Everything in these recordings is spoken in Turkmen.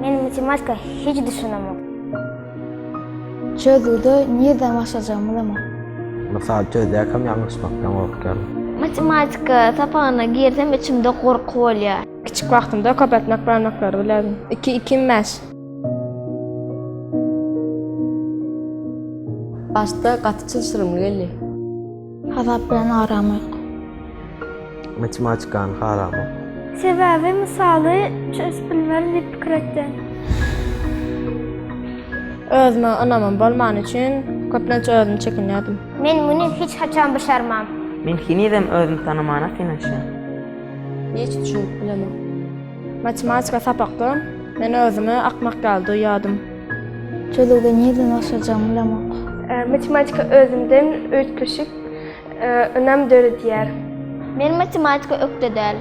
Men matematika hic düşünemok. Çözgüde nirden başlajagym bilemok. Mysaly çözýärkäm ýalňyşmakdan gorkýaryn. Matematika sapagyna girsem içimde gorky bolýar. Kiçik wagtymda köp etmek barmaklary bilerdim. Iki ikim bäş. Başda gaty çylşyrymly geldi. Hasap bilen aram ýok. Matematikany haramok. Sebäbi mysaly çözüp bilmerin diýip pikir etdim. Özüme ynamym bolmany üçin köplenç özümi çekinýärdim. Men muny hiç haçan başarmam. Men henizem özümi tanamana kynanşýan. Hiç düşünip bilemok. Matematika sapakda men özümi akmak ýaly duýýardym. Çözüwde nireden başlajagyňy bilemok. Matematika özünden üýtgeşik ynam döredýär. Men matematika ökde däl.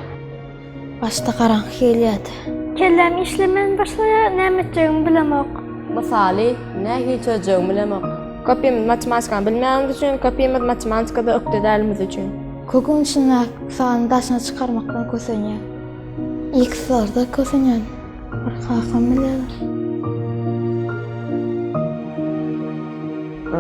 Başda garaňky gelýärdi. Kellem işlemän başlaýar, näme etjegimi bilemok. Mysaly, nähili çözjegimi bilemok. Köpimiz matematikany bilmänimiz üçin, köpimiz matematikada ökde dälimiz üçin. Köküň içindäki sany daşyna çykarmakdan kösenýär. Ilki solarda kösünýän bir kakam biler.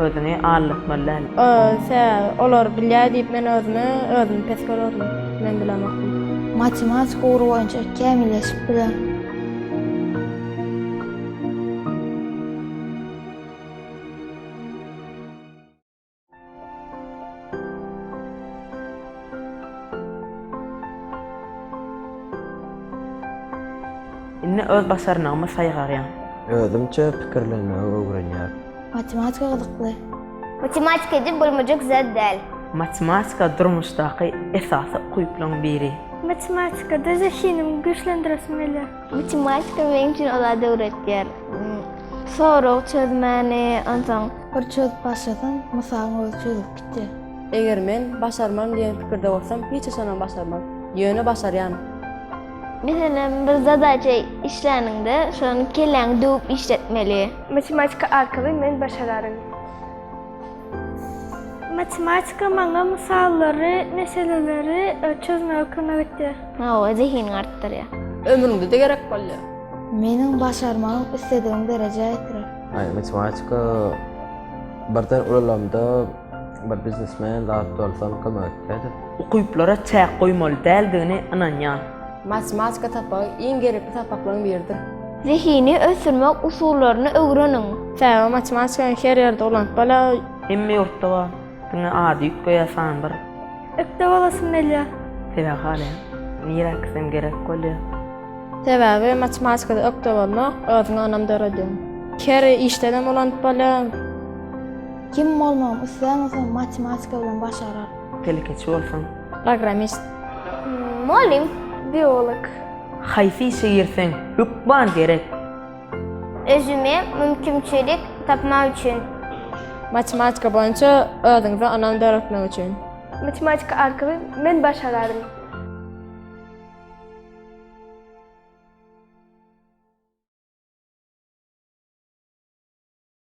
Özüňi aldatmaly däl. Öse, olar bilýär diýip men özümi, özümi pes görerdim. Men bilemokdym. Matematika ugry boýunça kämilleşip biler. Indi öz başarnygymy saýgarýan. Özümçe pikirlenmegi öwrenýär. Matematika gyzykly. Matematika edip bolmajak zat däl. Matematika durmuşdaky esasy ukyplaryň biri. Matematikada zehiniňi güýçlendiresim gelýär. Matematika meň üçin o zady öwretýär. Sorag çözmäni, onsoň bir çözüp başlasaň, mysalyň özi çözülip gitýär. Eger men başarmaryn diýen pikirde bolsam, hiç haçanam başarmaryn. Ýöne başarýan. Meselem, bir zadaça işläniňde, şony kelläňi döwüp işletmeli. Matematika arkaly men başararyn. Matematika maňa mysallary, meseleleri çözmäge kömek etýär. Oňa zehinini artdyrýar. Ömrüňde-de gerek bolýar. Meniň başarmagymy isledigiň derejä ýetirer. Matematika birden ulalamda bir biznesmen zat bolsam kömek etýärdi. Ukyplara çäk goýmaly däldigine ynanýan. Matematika sapagy iň gerekli sapaklaryň biridir. Zehini ösdürmek usullaryny öwreniň. Täze matematikany her ýerde ulanyp bolar. Hemme ýurtda bar. Diňe ady üýtgeýär san bir. Ökde bolasym gelýär. Sebäbi halaýan. Nirä gitsem gerek bolýar. Sebäbi matematikada ökde bolmak özüňe ynam döredýär. Her işdenem ulanyp bolýar. Kim bolmagym isleýän bolsaň matematika bilen başarar. Telekeçi bolsaň. Programist. Mugallym, biolog. Haýsy işe girseň, hökman gerek. Özüme mümkinçilik tapmak üçin. Matematika boýunça özüňize ynam döretmek üçin. Matematika arkaly men başararyn.